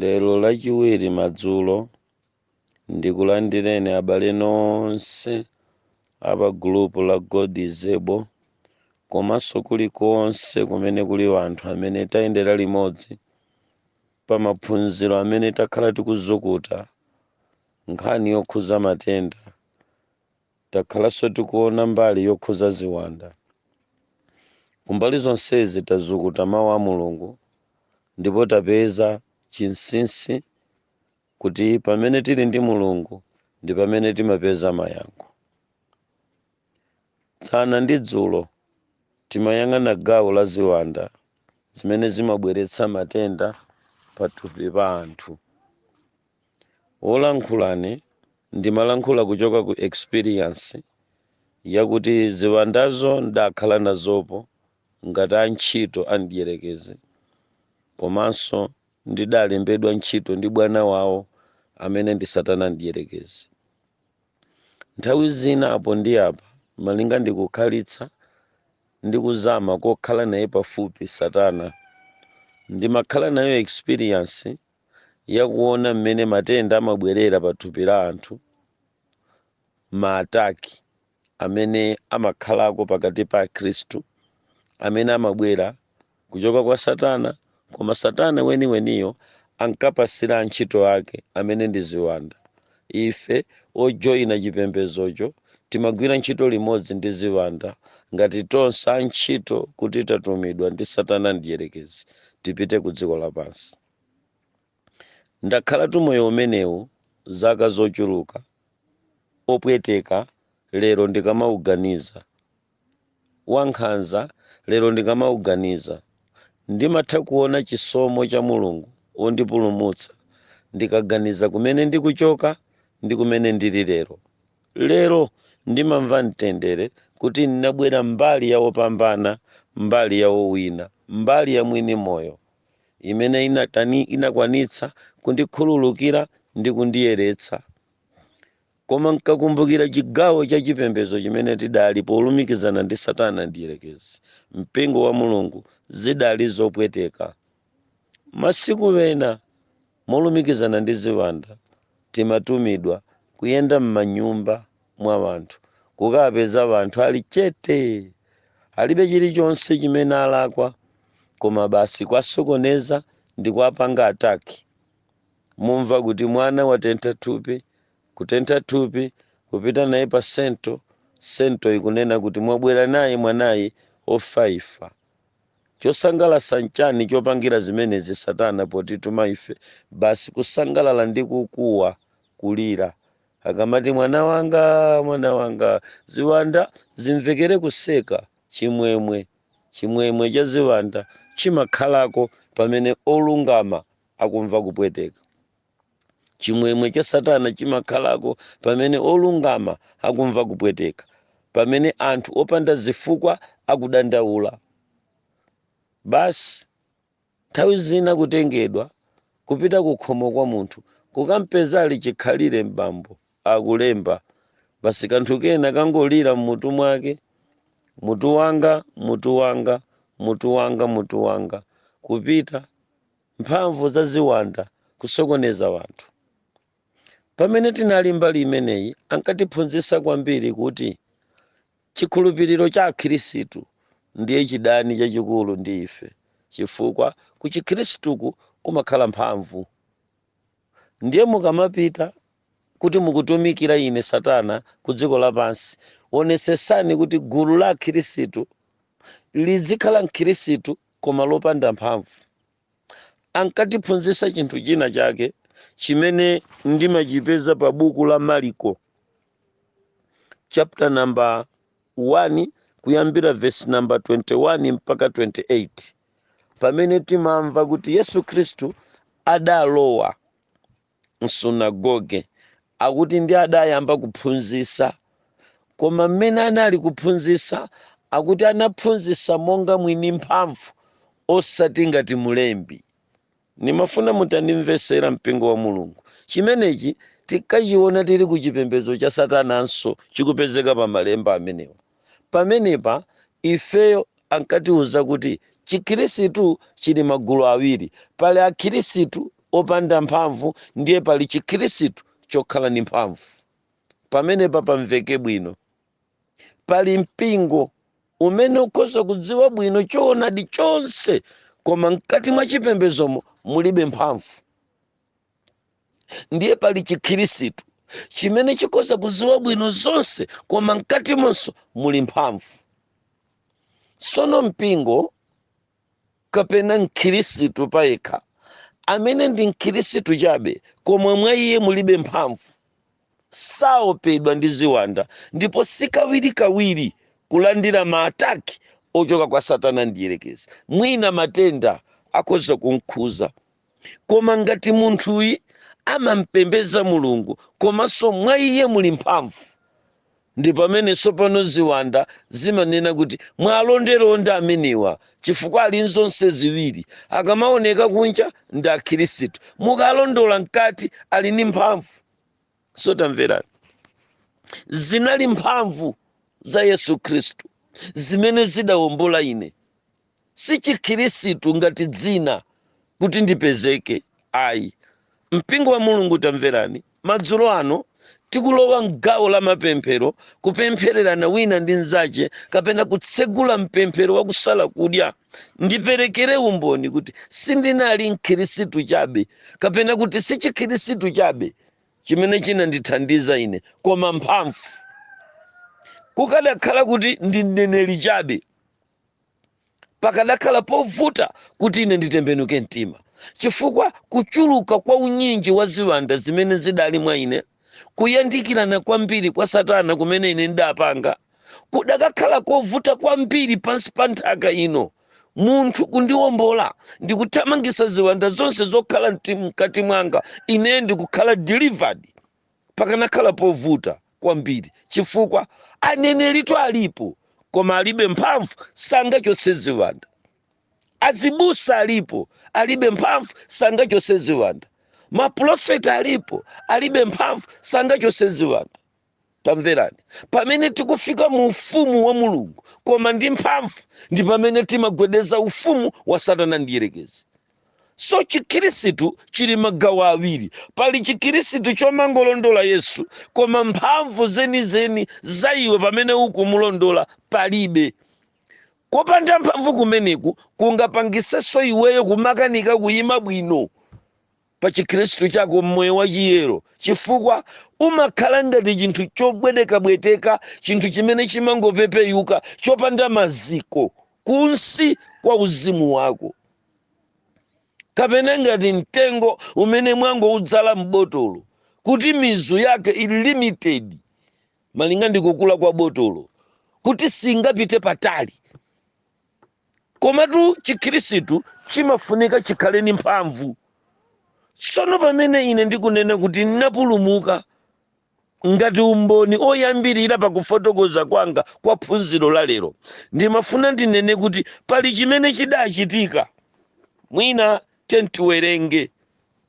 lero lachiwiri madzulo ndikulandireni abale nonse apa gulupu la god is able komanso kulikonse kumene kuli wanthu amene tayendera limodzi pa maphunziro amene takhala tikuzukuta nkhani yokhuza matenda Takhalanso tikuona mbali yokhuza ziwanda. Kumbali zonsezi tazukuta mau a Mulungu ndipo tapeza chinsinsi kuti pamene tili ndi Mulungu ndi pamene timapeza mayankho. Dzana ndi dzulo timayang'ana gawo la ziwanda zimene zimabweretsa matenda pathupi pa anthu. wolankhulane ine ndimalankhula kuchoka ku experience yakuti ziwandazo ndakhala nazopo ngati antchito a mdierekezi komanso ndidalembedwa ntchito ndi bwana wawo amene ndi satana mdierekezi nthawi zina apo ndi apa malinga ndi kukhalitsa ndi kuzama kokhala naye pafupi satana ndimakhala nayo experience ya kuona mmene matenda amabwerera pa thupi la anthu, maataki amene amakhalako pakati pa Akhristu, amene amabwera kuchoka kwa Satana, koma Satana weniweniyo ankapatsira antchito ake amene ndi ziwanda. Ife ojoyina chipembedzocho timagwira ntchito limodzi ndi ziwanda ngati tonse antchito kuti tatumidwa ndi Satana Mdyerekezi tipite ku dziko lapansi. Ndakhalatu moyo umenewu zaka zochuluka, wopweteka lero ndikamauganiza, wankhanza lero ndikamauganiza, ndimatha kuona chisomo cha Mulungu wondipulumutsa ndikaganiza kumene ndikuchoka ndi kumene ndili lero. Lero ndimamva mtendere kuti ndinabwera mbali ya opambana, mbali ya owina, mbali ya mwini moyo. imene inakwanitsa kundikhululukira ndi kundiyeretsa koma nkakumbukira chigawo cha chipembedzo chimene tidali polumikizana ndi satana mdierekezi mpingo wa mulungu zidali zopweteka masiku ena Molumikizana ndi ziwanda, timatumidwa kuyenda m'manyumba mwa wanthu kukawapeza wanthu ali chete! Alibe chilichonse chimene alakwa koma basi kuwasokoneza ndikuwapanga attack. Mumva kuti mwana watentha thupi, kutentha thupi, kupita naye pa cento, cento ikunena kuti mwabwera naye mwanayi ofaifa. Chosangalatsa nchani chopangira zimenezi satana potituma ife basi kusangalala ndi kukuwa, kulira akamati mwana wanga mwana wanga ziwanda zimvekere kuseka chimwemwe chimwemwe cha ziwanda chimakhalako pamene olungama akumva kupweteka. chimwemwe cha satana chimakhalako pamene olungama akumva kupweteka pamene anthu opanda zifukwa akudandaula basi nthawi zina kutengedwa kupita kukhomo kwa munthu kukampeza ali chikhalire m'bambo akulemba basi kanthu kena kangolira m'mutu mwake mutu wanga mutu wanga mutu wanga mutu wanga kupita mphamvu za ziwanda kusokoneza wanthu. Pamene tinali mbali imeneyi, ankatiphunzitsa kwambiri kuti chikhulupiriro cha Akhristu ndiye chidani chachikulu ndi ife, chifukwa ku Chikhristuku kumakhala mphamvu. Ndiye mukamapita kuti mukutumikira ine Satana ku dziko lapansi, onetsetsani kuti gulu la Akhristu lidzikhala Mkhristu koma lopanda mphamvu ankatiphunzitsa chinthu china chake chimene ndimachipeza pa buku la maliko chapter number 1 kuyambira verse number 21 mpaka 28 pamene timamva kuti yesu khristu adalowa m'sunagoge akuti ndi adayamba kuphunzitsa. Koma mmene anali kuphunzitsa akuti anaphunzitsa monga mwini mphamvu osati ngati mulembi. Ndimafuna mutandimvetsera mpingo wa Mulungu. Chimenechi tikachiona tili ku chipembedzo cha satananso chikupezeka pa malemba amenewa. Pamenepa ifeyo ankatiuza kuti Chikhirisitu chili magulu awiri, pali akhirisitu opanda mphamvu ndiye pali Chikhirisitu chokhala ndi mphamvu. Pamenepa pamveke bwino. Pali mpingo umene ukhoza kudziwa bwino choonadi chonse koma mkati mwa chipembedzomo mulibe mphamvu. ndiye pali chikhirisitu chimene chikhoza kudziwa bwino zonse koma mkatimonso muli mphamvu sono mpingo kapena mkhirisitu payekha amene ndi mkhirisitu chabe koma mwa iye mulibe mphamvu saopedwa ndi ziwanda ndipo sikawirikawiri kulandira maataki ochoka kwa satana mdyerekezi mwina matenda akhoza kumkhuza koma ngati munthuyi amampembedza mulungu komanso mwa iye muli mphamvu ndi pamene tsopano ziwanda zimanena kuti mwalondalonda amenewa chifukwa ali nzonse ziwiri akamaoneka kunja ndi akhirisitu mukalondola mkati ali ndi mphamvu so tamverani zinali mphamvu za yesu khristu zimene zidawombola ine si chikhirisitu ngati dzina kuti ndipezeke ayi mpingo wa mulungu tamverani madzulo ano tikulowa mgawo la mapemphero kupemphererana wina ndi mnzache kapena kutsegula mpemphero wakusala kudya ndiperekere umboni kuti sindinali mkhirisitu chabe kapena kuti si chikhirisitu chabe chimene chinandithandiza ine koma mphamvu kukadakhala kuti ndi mneneri chabe pakadakhala povuta kuti ine nditembenuke mtima chifukwa kuchuluka kwa unyinji wa ziwanda zimene zidali mwa ine kuyandikirana kwambiri kwa satana kumene ine ndidapanga kudakakhala kovuta kwambiri pansi pa nthaka ino munthu kundiwombola ndikuthamangisa ziwanda zonse zokhala mkati mwanga ine ndikukhala delivered pakanakhala povuta kwambiri chifukwa aneneritu alipo koma alibe mphamvu sangachotse ziwanda azibusa alipo alibe mphamvu sangachotse ziwanda mapulofeta alipo alibe mphamvu sangachotse ziwanda tamverani pamene tikufika mu ufumu wa mulungu koma ndi mphamvu ndi pamene timagwedeza ufumu wa satana mdyerekezi so chikhirisitu chili magawo awiri pali chikhirisitu chomangolondola yesu koma mphamvu zenizeni za iwe pamene ukumulondola palibe kopanda mphamvu kumeneku kungapangitsenso iweyo kumakanika kuyima bwino pa chikhristu chako mmoyo wa chiyero chifukwa umakhala ngati chinthu chobwetekabweteka chinthu chimene chimangopepeyuka chopanda maziko kunsi kwa uzimu wako kapena ngati mtengo umene mwangoudzala m'botolo kuti mizu yake ili limited malinga ndi kukula kwa botolo kuti singapite patali komatu chikhristu chimafunika chikhale ndi mphamvu tsono pamene ine ndikunena kuti ndinapulumuka Ngati umboni oyambirira pa kufotokoza kwanga kwa phunziro la lero, ndimafuna ndinene kuti pali chimene chidachitika. Mwina tiyeni tiwerenge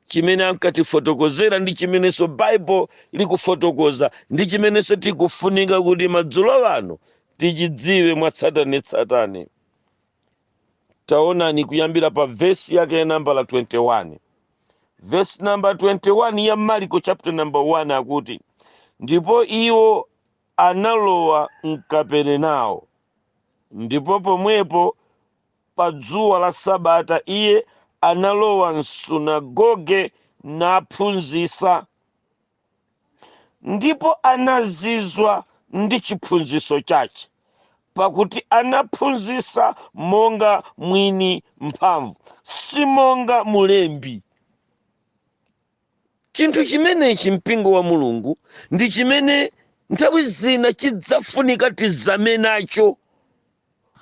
chimene ankatifotokozera ndi chimenenso Bible likufotokoza ndi chimenenso tikufunika kuti madzulo ano tichidziwe mwatsatanetsatane. taonani kuyambira pa vesi yake ya nambala 21 vesi namba 21 ya marko chapter number 1 akuti ndipo iwo analowa mKaperenao ndipo pomwepo pa dzuwa la sabata iye analowa msunagoge naphunzisa ndipo anazizwa ndi chiphunziso chache, pakuti anaphunzisa monga mwini mphamvu, si monga mulembi. Chinthu chimenechi mpingo wa Mulungu ndi chimene nthawi zina chidzafunika tizame nacho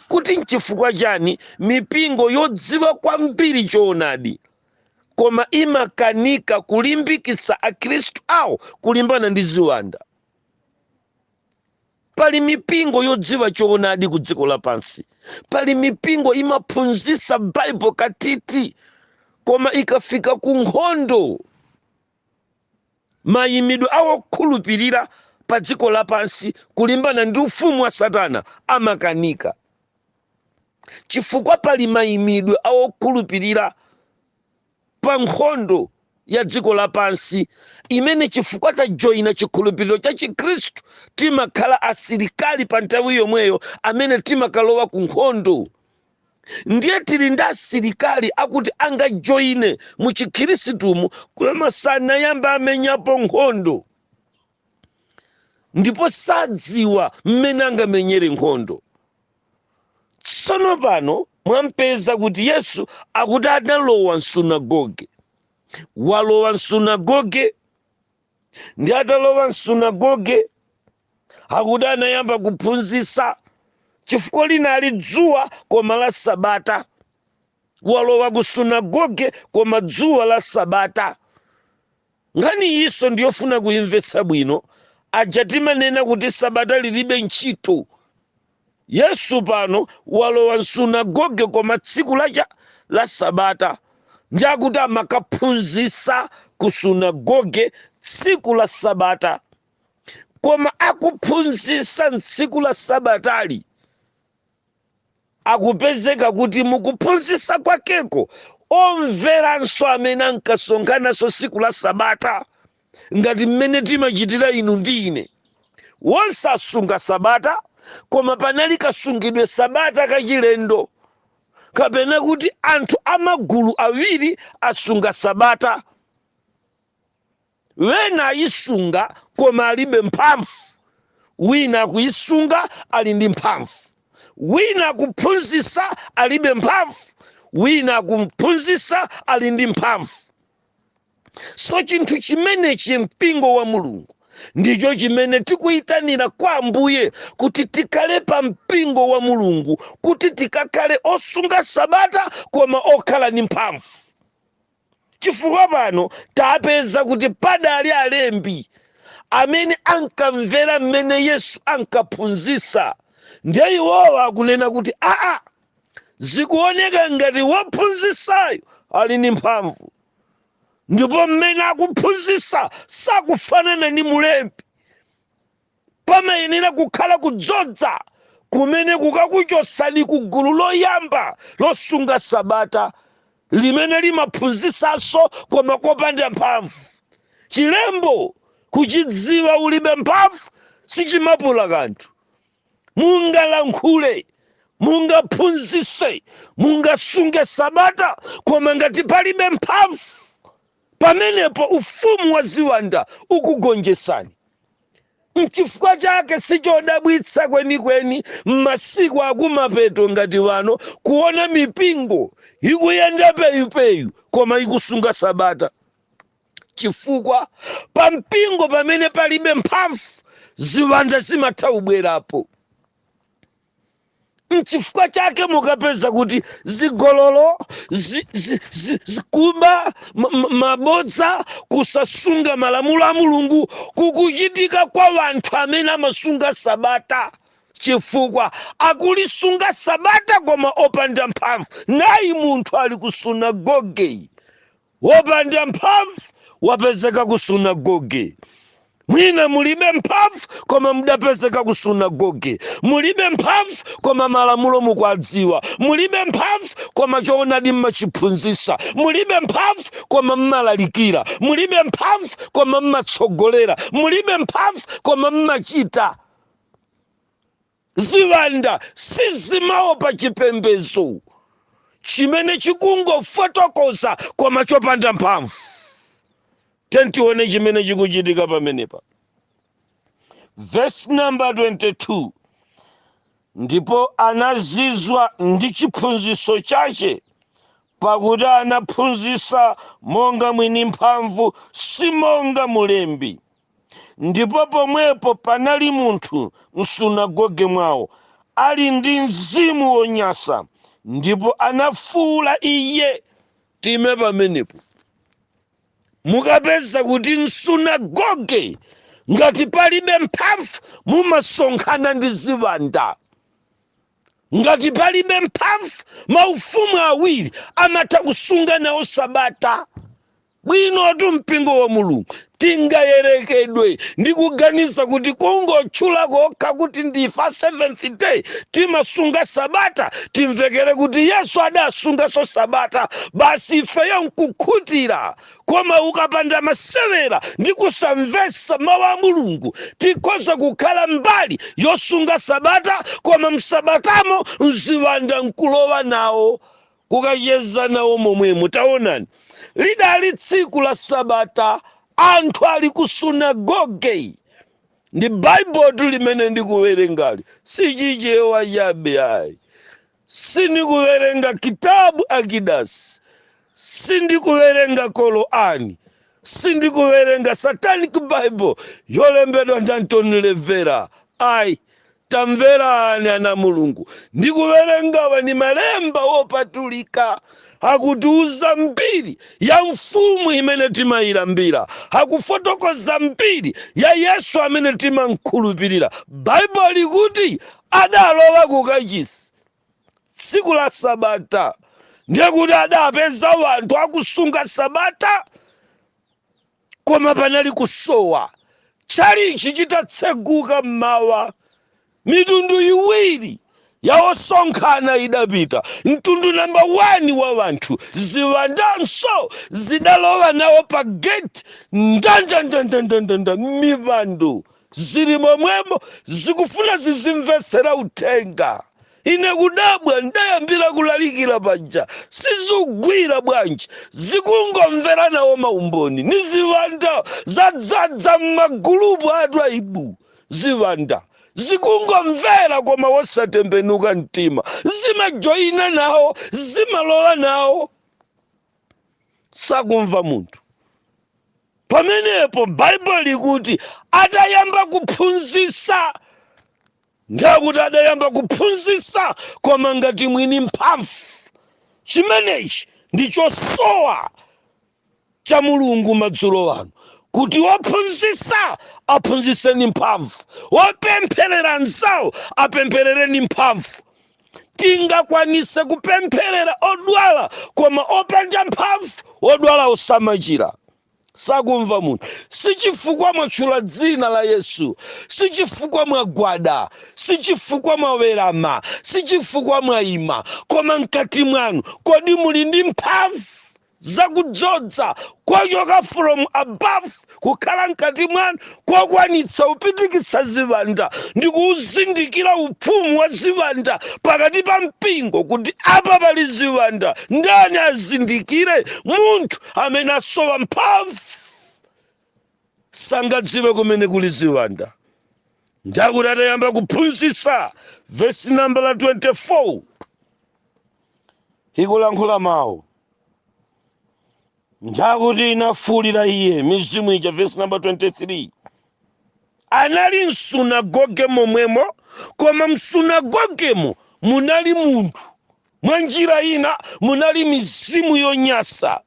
kuti n'chifukwa chani mipingo yodziwa kwambiri choonadi koma imakanika kulimbikitsa akhristu awo kulimbana ndi ziwanda pali mipingo yodziwa choonadi ku dziko lapansi pali mipingo imaphunzitsa Bible katiti koma ikafika ku nkhondo Mayimidwe a wokhulupirira pa dziko lapansi kulimbana ndi ufumu wa Satana amakanika, chifukwa pali mayimidwe a wokhulupirira pa nkhondo ya dziko lapansi imene chifukwa tajoina chikhulupiriro cha Chikhristu timakhala asilikali pa nthawi yomweyo amene timakalowa ku nkhondo. ndiye tili ndi asilikali akuti angajoine mu chikhiristumu koma sanayamba amenyapo nkhondo ndipo sadziwa mmene angamenyere nkhondo tsono pano mwampeza kuti yesu akuti atalowa msunagoge walowa msunagoge ndi atalowa msunagoge akuti anayamba kuphunzitsa chifukwa linali dzuwa koma la sabata walowa ku sunagoge koma dzuwa la sabata nkhani iyinso ndiyofuna kuyimvetsa bwino aja timanena kuti sabata lilibe ntchito yesu pano walowa msunagoge koma tsiku lache la sabata ndi akuti amakaphunzitsa ku sunagoge tsiku la sabata koma akuphunzitsa m'tsiku la sabatali akupezeka kuti mukuphunzitsa kwakeko omveranso amene ankasonkhananso tsiku la sabata ngati mmene timachitira inu ndi ine wonse asunga sabata koma panali kasungidwe sabata kachilendo kapena kuti anthu amagulu awiri asunga sabata Wina ayisunga koma alibe mphamvu, wina akuyisunga ali ndi mphamvu. Wina akuphunzisa alibe mphamvu, wina akuphunzisa ali ndi mphamvu. So chinthu chimenechi mpingo wa Mulungu ndicho chimene tikuyitanira kwa Ambuye kuti tikhale pa mpingo wa Mulungu kuti tikakhale osunga sabata koma okhala ndi mphamvu. chifukwa pano tapeza kuti padali alembi amene ankamvera mmene yesu ankaphunzisa ndiye iwowa akunena kuti aa zikuoneka ngati wophunzisayu ali ndi mphamvu ndipo mmene akuphunzisa sakufanana ndi mulembi Pamayenera kukhala kudzodza kumene kukakuchotsani ku gulu loyamba losunga Sabata limene limaphunzisanso koma kopanda mphamvu. Chilembo kuchidziwa ulibe mphamvu sichimapula kanthu. Mungalankhule, mungaphunzise, mungasunge Sabata koma ngati palibe mphamvu. Pamenepo ufumu wa ziwanda ukugonjesani. Nchifukwa chake sichodabwitsa kwenikweni m'masiku akumapeto ngati wano kuona mipingo ikuyenda peyupeyu koma ikusunga Sabata. Chifukwa? Pa mpingo pamene palibe mphamvu, ziwanda zimatha kubwerapo. nchifukwa chake mukapeza kuti zigololo zi, zi, zi, kuba ma- ma- mabodza kusasunga malamulo a mulungu kukuchitika kwa wanthu amene amasunga sabata chifukwa akulisunga sabata koma opanda mphamvu nayi munthu ali ku sunagogeyi Wopanda mphamvu wapezeka ku sunagoge. Mwina mulibe mphamvu koma mudapezeka ku sunagoge. Mulibe mphamvu koma malamulo mukwadziwa. Mulibe mphamvu koma choonadi mmachiphunzisa. Mulibe mphamvu koma mmalalikira. Mulibe mphamvu koma mmatsogolera. Mulibe mphamvu koma mmachita. Ziwanda sizimaopa chipembedzo chimene chikungofotokoza koma chopanda mphamvu. Tiyeni tione chimene chikuchitika pamenepa. Verse number 22 ndipo anazizwa ndi chiphunziso chache pakuti anaphunzisa monga mwini mphamvu si monga mulembi Ndipo pomwepo panali munthu m'sunagoge mwao, ali ndi mzimu wonyansa, ndipo anafuula iye. Tiime pamenepo. Mukapeza kuti m'sunagoge, ngati palibe mphamvu, mumasonkhana ndi ziwanda. Ngati palibe mphamvu, maufumu awiri amatha kusunga nawo Sabata. Bwinotu Mpingo wa Mulungu! Tingayerekedwe ndi kuganiza kuti kungotchula kokha kuti ndife a Seventh-day, timasunga Sabata, timvekere kuti Yesu adasunganso Sabata basi ifeyo nkukhutira. Koma ukapanda masewera ndi kusamvetsa Mawu a Mulungu, tikhoza kukhala mbali yosunga Sabata koma m'Sabatamo mziwanda nkulowa nawo. kukacheza nawo momwemo. Taonani, lidali tsiku la Sabata, anthu ali ku sunagoge ndi baibulotu limene ndikuwerengali si chichewa chabe ayi sindikuwerenga kitabu takidasi sindikuwerenga Korani Sindikuwerenga satanic bible yolembedwa ndi Anton LaVey ayi. Tamverani ana a Mulungu, ndikuwerengawa ndi malemba wopatulika akutiuza mbiri ya mfumu imene timayilambira, akufotokoza mbiri ya Yesu amene timamkhulupirira. Baibulo likuti adalowa kukachisi tsiku la sabata ndiye kuti adapeza wanthu akusunga sabata koma panali kusowa tchalichi chitatseguka mmawa mitundu iwiri ya osonkhana idapita mtundu namba 1 wa wanthu ziwandanso zidalowa nawo pa geti ndandandandandandanda m'mipando zili momwemo zikufuna zizimvetsera uthenga ine kudabwa ndayambira kulalikira panja sizikugwa bwanji zikungomvera nawo maumboni ni ziwanda zadzadza m'magulupu a Twaibu ziwanda zikungomvera koma wosatembenuka mtima zimajoyina nawo zimalowa nawo sakumva munthu pamenepo baibulo likuti adayamba kuphunzisa ndekuti adayamba kuphunzisa koma ngati mwini mphamvu chimenechi ndi chosowa cha mulungu madzulo ano kuti wophunzisa aphunzise ni mphamvu wopempherera nzawo apempherere ni mphamvu tingakwanise kupempherera odwala koma opanda mphamvu odwala osamachira sakumva munthu sichifukwa mwatchula dzina la yesu sichifukwa mwagwada sichifukwa mwawerama sichifukwa mwayima koma mkati mwanu kodi muli ndi mphamvu za kudzoza kochoka from above kukhala mkati mwanu kokwanitsa kupitikitsa ziwanda ndi kuuzindikira upfumu wa ziwanda pakati pa mpingo kuti apa pali ziwanda ndani azindikire munthu amene asowa mphamvu sangadziwe kumene kuli ziwanda ndakuti atayamba kuphunzitsa vesi nambala 24 ikulankhula mawu ndakuti inafuulitsa iye mizimu ija vesi namba 23 anali msunagoge momwemo koma msunagogemo munali munthu mwa njira ina munali mizimu yonyasa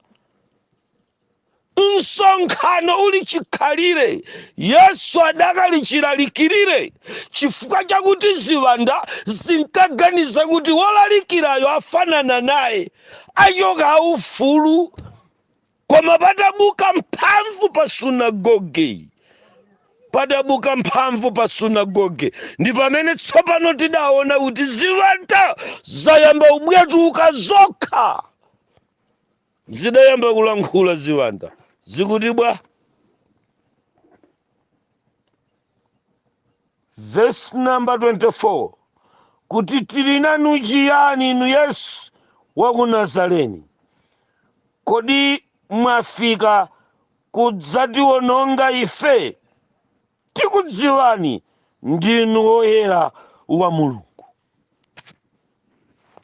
msonkhano uli chikhalire yesu adakali chilalikirire chifukwa chakuti ziwanda zinkaganiza kuti wolalikirayo afanana naye achoka aufulu koma padabuka mphamvu pa sunagoge padabuka mphamvu pa sunagoge ndi pamene tsopano tidaona kuti ziwanda zayamba ubwetuka zokha zidayamba kulankhula ziwanda zikuti bwa verse number 24 kuti tili nanu chiyani inu yesu wa ku nazareni kodi mwafika kudzatiwononga ife tikudziwani ndinu woyera wa mulungu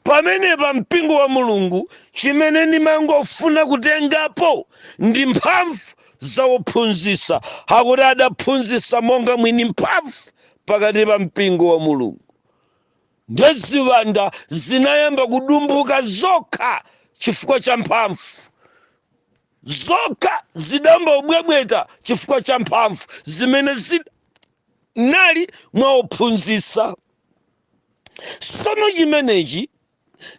pamenepa mpingo wa mulungu chimene ndimangofuna kutengapo ndi mphamvu za ophunzitsa akuti adaphunzitsa monga mwini mphamvu pakati pa mpingo wa mulungu nde ziwanda zinayamba kudumbuka zokha chifukwa cha mphamvu zokha zidayamba kubwebweta chifukwa cha mphamvu zimene zinali mwa ophunzitsa sono chimenechi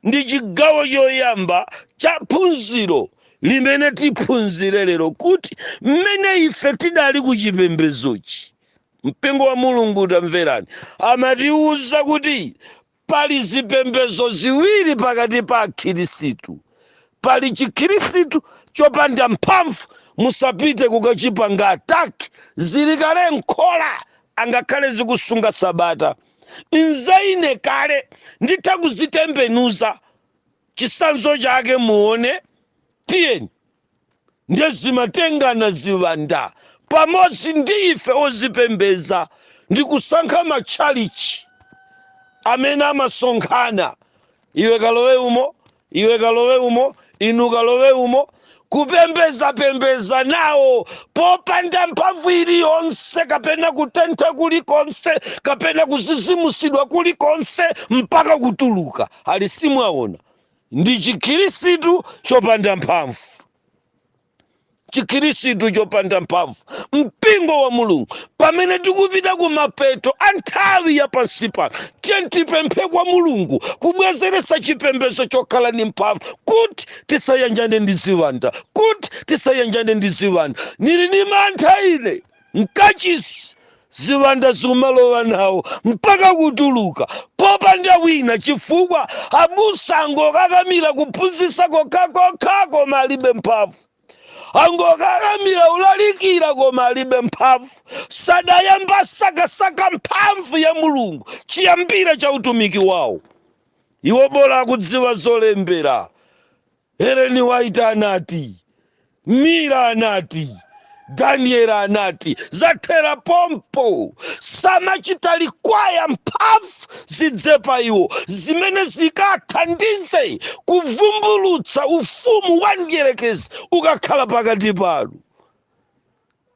ndi chigawo choyamba cha phunziro limene tiphunzire lero kuti mmene ife tidali ku chipembedzochi mpingo wa mulungu tamverani amatiwuza kuti pali zipembedzo ziwiri pakati pa akhirisitu pali chikhirisitu chopanda mphamvu musapite kukachipanga ataki zili kale nkhola angakhale zikusunga sabata nza ine kale nditha kuzitembenuza chisanzo chake muone tiyeni ndiye zimatengana ziwanda pamodzi ndi ife ozipembeza ndi kusankha matchalichi amene amasonkhana iwe kalowe umo iwe kalowe umo inu kalowe umo kupembezapembeza nawo popanda mphamvu iliyonse kapena kutentha kulikonse kapena kuzizimusidwa kulikonse mpaka kutuluka ali simwaona ndi chikhirisitu chopanda mphamvu chikhirisitu chopanda mphamvu mpingo wa mulungu pamene tikupita ku mapeto a nthawi ya pansi pano tiyeni tipemphe kwa mulungu kubwezeresa chipembezo chokhala ni mphamvu kuti tisayanjane ndi ziwanda kuti tisayanjane ndi ziwanda nili ni mantha ine Mkachisi, ziwanda zimalowa nawo mpaka kutuluka popanda wina chifukwa abusa angokakamira kuphunzitsa kokhakokha koma alibe mphamvu. Angokakamira ulalikira koma alibe mphamvu. Sadayamba sakasaka mphamvu ya Mulungu chiyambire cha utumiki wawo. Iwo bola akudziwa zolembera Ellen White anati, Miller anati, Daniel anati, zathera pompo. Samachita likwaya mphamvu zidze pa iwo zimene zikathandize kuvumbulutsa ufumu wa mdierekezi ukakhala pakati panu.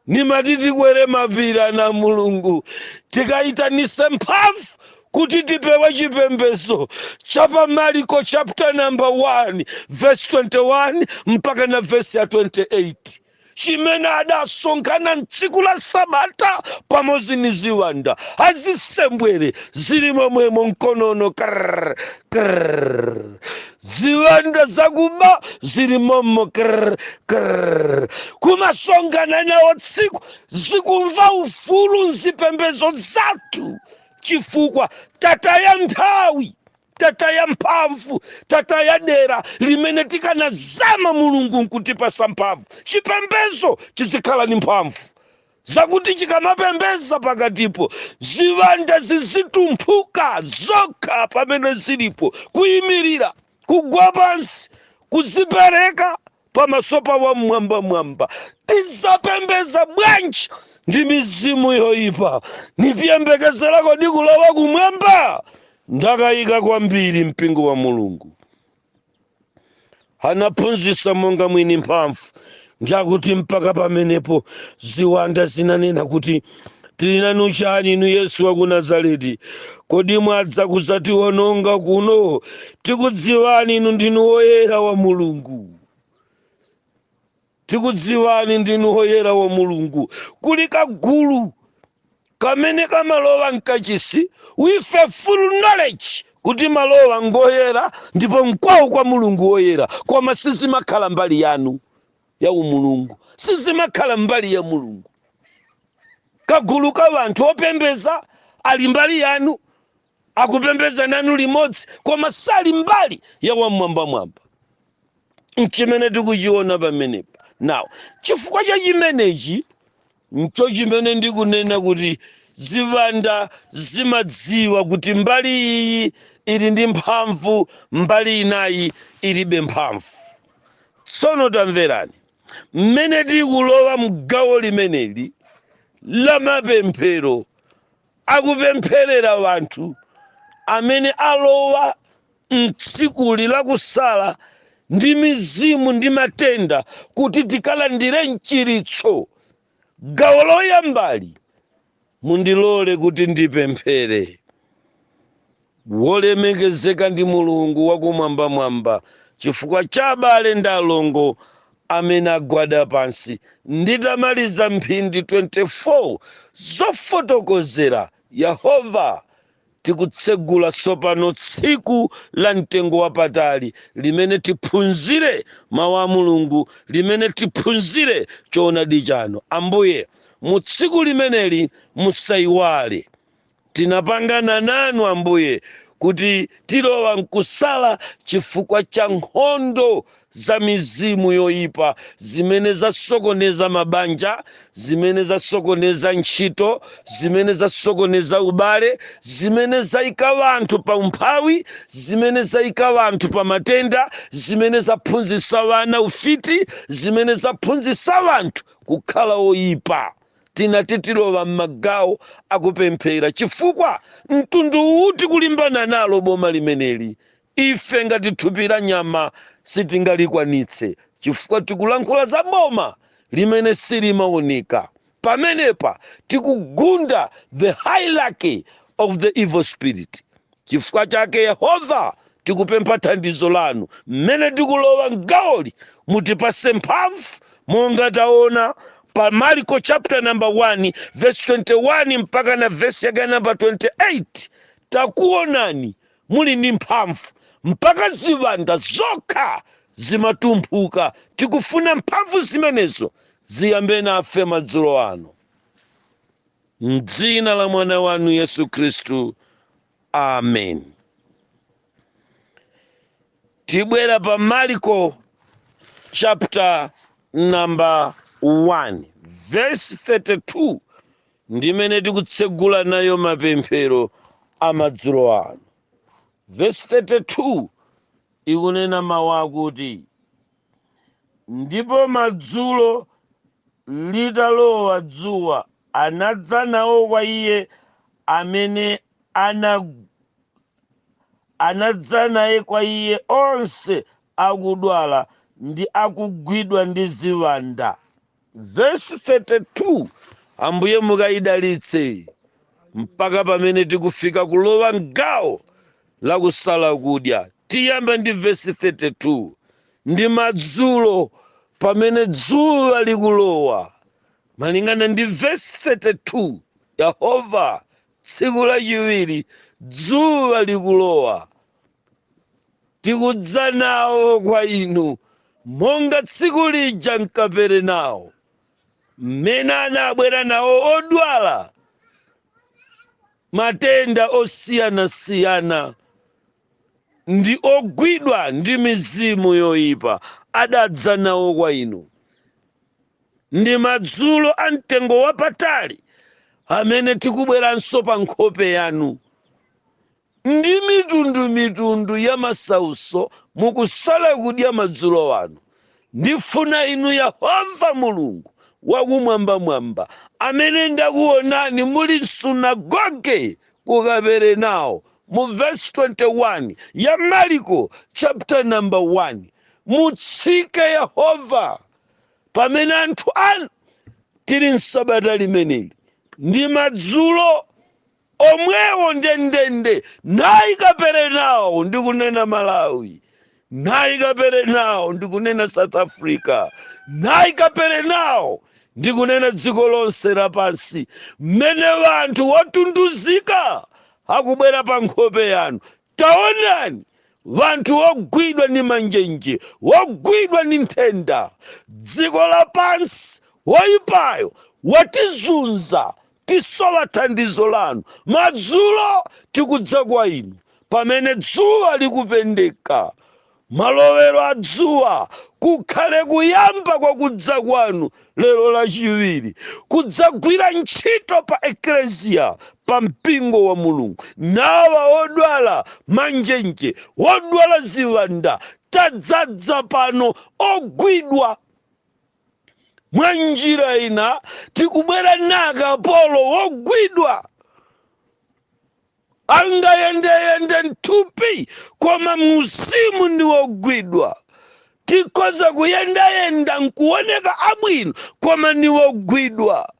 Nimati tikwere mapiri ana a Mulungu, tikaitanise mphamvu kuti tipewe chipembezo cha pa Mariko chapter number 1 verse 21 mpaka na verse ya 28 chimene adasonkhana mtsiku la sabata pamodzi ni ziwanda azisembwere zili momwemo mkonono krr, krr. ziwanda zakuba zili momo krr, krr. kumasonkhana nawo tsiku zikumva ufulu mzipembezo zathu chifukwa tataya nthawi tataya mphamvu tataya dera limene tikanazama mulungu nkutipasa mphamvu chipembezo chizikhala ni mphamvu zakuti chikamapembeza pakatipo ziwanda zizitumphuka zokha pamene zilipo kuyimirira kugwa pansi kuzipereka pamaso pa wam'mwambamwamba tizapembeza bwanji ndi mizimu yoyipa nitiyembekezera kodi kulowa kumwamba ndakayika kwambiri mpingo wa mulungu anaphunzitsa monga mwini mphamvu ndiakuti mpaka pamenepo ziwanda zinanena kuti tili nanu chani inu yesu wa ku nazareti kodi mwadza kuzatiwononga kuno tikudziwani inu ndinu woyera wa mulungu tikudziwani ndinu woyera wa mulungu kuli kagulu kamene kamalowa mkachisi with a full knowledge kuti malowa ngoyera ndipo mkwawo kwa mulungu woyera koma sizimakhala mbali yanu ya umulungu sizimakhala mbali ya mulungu kagulu ka wanthu opembeza ali mbali yanu akupembeza nanu limodzi koma sali mbali ya wamwambamwamba nchimene tikuchiona pamenepa now chifukwa cha chimenechi ncho chimene ndikunena kuti ziwanda zimadziwa kuti mbali iyi ili ndi mphamvu mbali inayi ilibe mphamvu tsono tamverani mmene tikulowa mgawo limeneli la mapemphero akupempherera wanthu amene alowa m'tsikuli la kusala ndi mizimu ndi matenda kuti tikalandire mchiritso. Gawo loyambali mundilole kuti ndipemphere. Wolemekezeka ndi Mulungu wakumwambamwamba chifukwa cha abale ndi alongo amene agwada pansi nditamaliza mphindi 24 zofotokozera Yehova, tikutsegula tsopano tsiku la mtengo wapatali limene tiphunzire Mau a Mulungu, limene tiphunzire choonadi chanu. Ambuye, mu tsiku limeneli musaiwale Tinapangana nanu, Ambuye, kuti tilowa nkusala chifukwa cha nkhondo za mizimu yoipa zimene zasokoneza mabanja, zimene zasokoneza ntchito, zimene zasokoneza ubale, zimene zaika wanthu pa umphawi, zimene zaika wanthu pa matenda, zimene zaphunzitsa wana ufiti, zimene zaphunzitsa wanthu kukhala oipa. tinati tilowa m'magawo akupemphera chifukwa mtundu uwu tikulimbana nalo boma limeneli ife ngati thupi la nyama sitingalikwanitse chifukwa tikulankhula za boma limene silimaoneka pamenepa tikugunda the hierarchy of the evil spirit Chifukwa chake, Yehova, tikupempha thandizo lanu m'mene tikulowa m'gawoli. Mutipatse mphamvu monga taona pa Marko chapter number 1 verse 21 mpaka na verse yake number 28. Takuonani muli ndi mphamvu mpaka ziwanda zokha zimatumphuka. Tikufuna mphamvu zimenezo ziyambe nafe madzulo ano. M'dzina la mwana wanu Yesu Khristu. Amen. Tibwera pa Marko chapter number 1 verse 32 ndimene tikutsegula nayo mapemphero amadzulo ano. Verse 32 ikunena mawu akuti ndipo madzulo litalowa dzuwa anadza nawo kwa iye amene anadza naye kwa iye onse akudwala ndi akugwidwa ndi ziwanda vesi 32 ambuye mukayidalitse mpaka pamene tikufika kulowa mgawo la kusala kudya tiyamba ndi vesi 32 ndi madzulo pamene dzuwa likulowa malingana ndi vesi 32 yehova tsiku lachiwiri dzuwa likulowa tikudza nawo kwa inu monga tsiku lija mkaperenawo mmene anabwera nawo odwala matenda osiyanasiyana ndi ogwidwa ndi mizimu yoyipa adadza nawo kwa inu ndi madzulo a mtengo wapatali amene tikubweranso pa nkhope yanu Ndi mitundu mitundu ya masauso mukusala kudya madzulo ano, ndifuna inu Yehova Mulungu wakumwambamwamba, amene ndakuonani muli m'sunagoge ku Kaperenao mu vesi 21 ya Marko chapter number 1, mutsike Yehova pamene anthu anu tili m'sabata limeneli ndi madzulo. omwewo ndendende nayi kaperenawo ndikunena malawi nayi kaperenawo ndikunena south africa nayi kaperenawo ndikunena dziko lonse lapansi mmene wanthu wotunduzika akubwera pa nkhope yanu Taonani! Wanthu wogwidwa ni manjenje, wogwidwa ni nthenda, dziko lapansi, woipayo, watizunza, tisowa thandizo lanu, madzulo tikudza kwa inu, pamene dzuwa likupendeka, Malowero a dzuwa kukhale kuyamba kwa kudza kwanu lero Lachiwiri, kudzagwira ntchito pa Eklesia, pa Mpingo wa Mulungu. Nawa odwala manjenje, wodwala ziwanda, tadzadza pano ogwidwa. Mwa njira ina tikubwera na kapolo wogwidwa. angayendeyende mthupi koma muuzimu ndi wogwidwa tikhoza kuyendayenda nkuoneka abwino koma ndi wogwidwa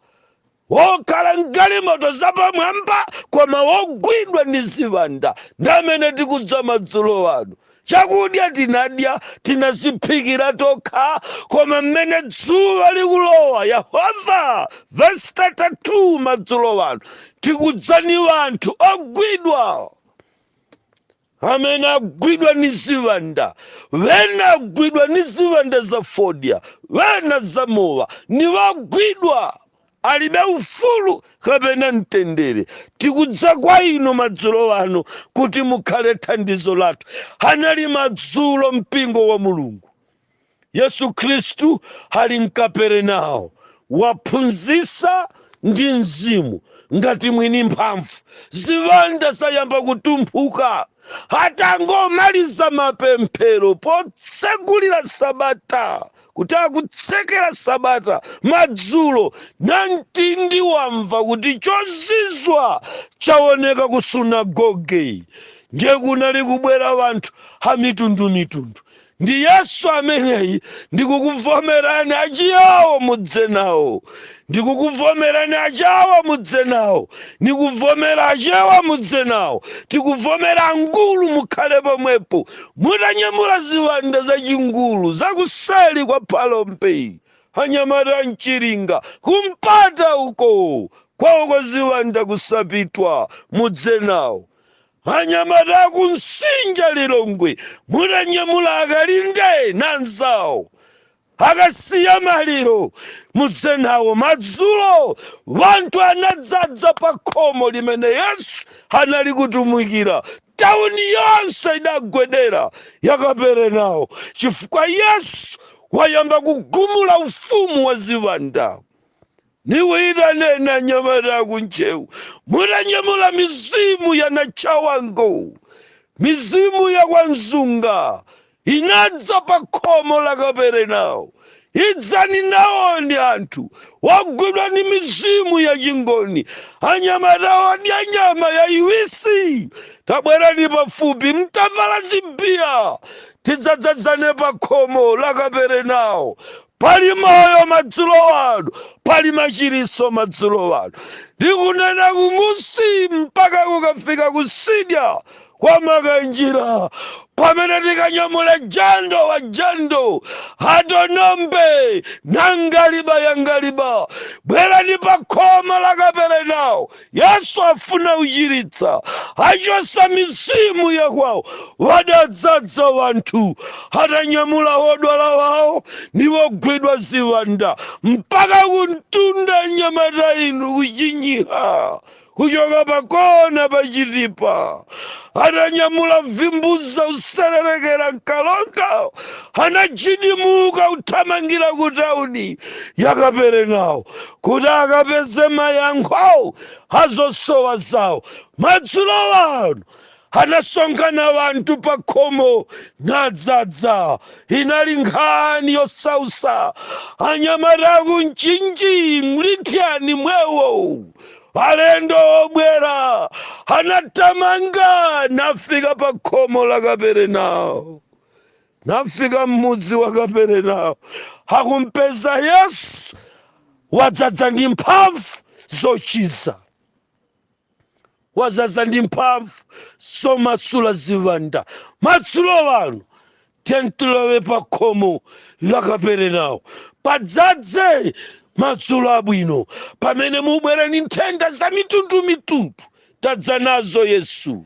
wokhala mgalimoto zapamwamba koma wogwidwa ndi ziwanda ndi amene tikudza madzulo ano Chakudya tinadya tinaziphikira tokha, koma mmene dzuwa likulowa, Yehova, vesi 32, madzulo ano tikudza ni wanthu ogwidwa amene agwidwa ni ziwanda wena agwidwa ni ziwanda za fodya wena za mowa ni wagwidwa alibe ufulu kapena mtendere. Tikudza kwa inu madzulo ano kuti mukhale thandizo lathu. Anali madzulo mpingo wa Mulungu. Yesu Khristu ali mKaperenao waphunzisa ndi mzimu ngati mwini mphamvu. Ziwanda zayamba kutumphuka. Atangomaliza mapemphero potsegulira sabata kuti akutsekera sabata madzulo namtindi wamva kuti chozizwa chaoneka ku sunagoge ndiye kunali kubwera wanthu amitundumitundu ndi yesu ameneyi ndikukuvomerani aChiyawo mudze nawo Ndikukuvomerani achawa mudze nawo, ndikuvomera achewa mudze nawo, tikuvomera angulu mukhale pomwepo mutanyamula ziwanda za chingulu za kuseli kwa Phalombe anyamata mChiringa kumpata uko kwawo uko ziwanda kuSapitwa mudze nawo. Anyamata kuNsinja Lilongwe mutanyamula akalinde nanzawo Akasiya maliro, mudze nawo. Madzulo wanthu anadzadza pa khomo limene Yesu anali kutumikira. Tauni yonse idagwedera ya Kaperenao chifukwa Yesu wayamba kugumula ufumu wa ziwanda. Niwaitane anyamata a ku Ntcheu, mutanyamula mizimu ya Anatchawango. Mizimu ya kwa Nzunga inadza pa khomo la Kaperenao. Idzani nawoni anthu ogwidwa ni mizimu ya Chingoni, anyamata odya nyama yaiwisi. Tabwerani pafupi mutavala zibiya, tidzadzazane pa khomo la Kaperenao. Pali Moyo madzulo ano. Pali machiritso madzulo ano. Ndikunena ku Mangochi mpaka kukafika kusidya kwa makanjira pamene tikanyamula jando wa jando atonombe nangaliba yangaliba bwerani pa khomo la kaperenawo yesu afuna kuchiritsa achosa mizimu yakwawo adadzadza wanthu atanyamula wodwala wawo ndi wogwidwa ziwanda mpaka kumtunda nyamata inu kuchinyiha kuchoka pakona pachitipa atanyamula vimbuza kutsetserekera mKaronga anadzidzimuka uthamangira kutauni yakaperenawo kuti akapeze mayankho a zosowa zawo. Madzulo ano anasonkhana wanthu pa khomo nadzadza. Inali nkhani yosausa anyamata a ku Mchinji mlithyani mwewo alendo obwera anathamanga nafika pa khomo la kaperenawo nafika m'mudzi wa kaperenawo nakumpeza yesu wadzadza ndi mphamvu zochiza wadzadza ndi mphamvu zomasula ziwanda madzulo ano tiyeni tilowe pa khomo la kaperenawo padzadze madzulo abwino pamene mubwera ndi nthenda za mitundumitundu tadza nazo yesu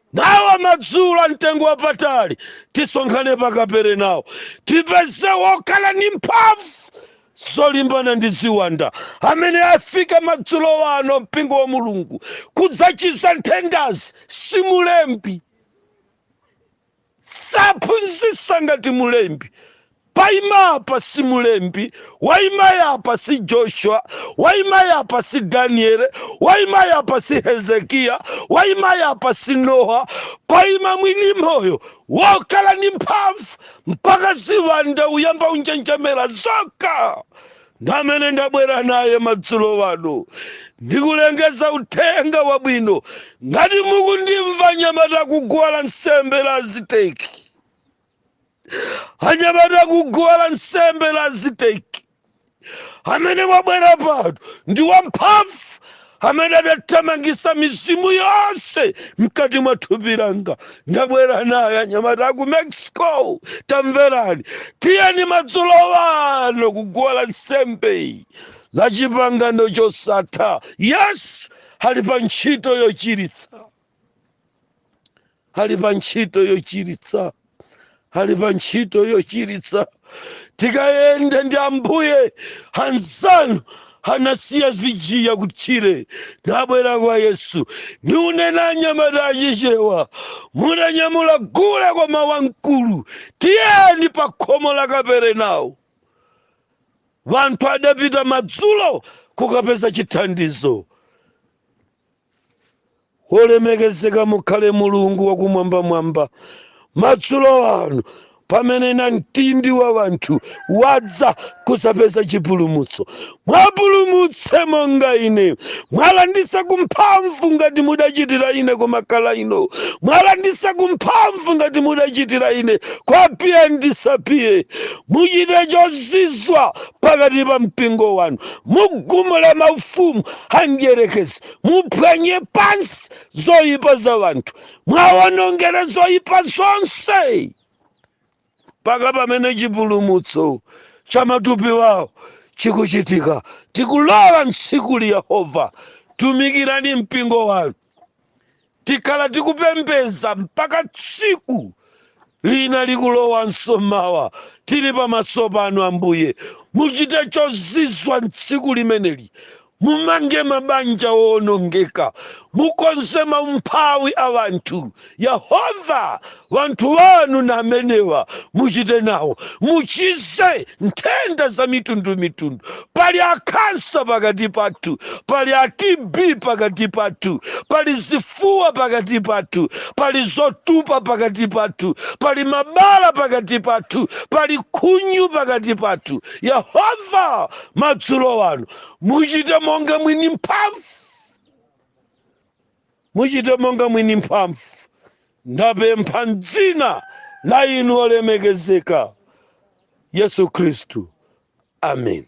Nawa madzulo a mtengo wapatali tisonkhane pa Kaperenao, tipeze wokhala ni mphamvu zolimbana ndi ziwanda amene afika madzulo ano mpingo wa Mulungu kudzachiza nthendazi. Si mulembi, saphunzisa ngati mulembi, Paima apa si mulembi, waima apa si Joshua, waima apa si Daniele, waima apa si Hezekiya, waima apa si Nowa, paima mwini moyo wokhala ndi mphamvu mpaka ziwanda uyamba unjenjemera zokha ndamene ndabwera naye madzulo ano ndikulengeza uthenga wabwino ngati mukundimva nyamata kuguwa la nsembe la aziteki anyamata akuguwa la nsembe la aziteki amene wabwera pano ndi wamphamvu amene adathamangisa mizimu yonse mkati mwa thupi langa ndabwera naye anyamata aku mexico tamverani tiyeni madzulo ano kuguwa la nsembe la chipangano chosatha yesu ali pa ntchito yochiritsa ali pa ntchito yochiritsa ali pa ntchito yochiritsa tikayenda ndi ambuye anzanu anasiya zigiya kutchire nabwera kwa yesu ndikunena anyamata achichewa munanyamula gule koma wamkulu tiyeni pa khomo la kaperenawo wanthu adapita madzulo kukapeza chithandizo Wolemekezeka mukhale Mulungu wakumwambamwamba, madzulo ano, pamene namtindi wa wanthu wadza kuzapeza chipulumutso. Muwapulumutse monga ine, muwalanditse kumphamvu ngati mudachitira ine kumakhala ino, muwalanditse kumphamvu ngati mudachitira ine kwa piye ndisapiye. Muchite chozizwa pakati pa mpingo wanu, mugumule maufumu amdyerekezi muphwanye pansi zoyipa za wanthu muwawonongere zoyipa zonse mpaka pamene chipulumutso cha matupi wawo chikuchitika tikulowa mtsikuli yehova tumikirani mpingo wanu tikhala tikupembedza mpaka tsiku lina likulowanso mawa tili pamaso panu ambuye muchite chozizwa mtsiku limeneli mumange mabanja owonongeka mukonze maumphawi a wanthu Yehova, wanthu wanu ndi amenewa, muchite nawo, muchize nthenda za mitundu mitundu. Pali a khansa pakati pathu, pali a TB pakati pathu, pali zifuwa pakati pathu, pali zotupa pakati pathu, pali mabala pakati pathu, pali khunyu pakati pathu. Yehova, madzulo ano, muchite monga mwini mphamvu. Muchite monga mwini mphamvu. Ndapempha m'dzina la inu wolemekezeka, Yesu Khristu. Ameni.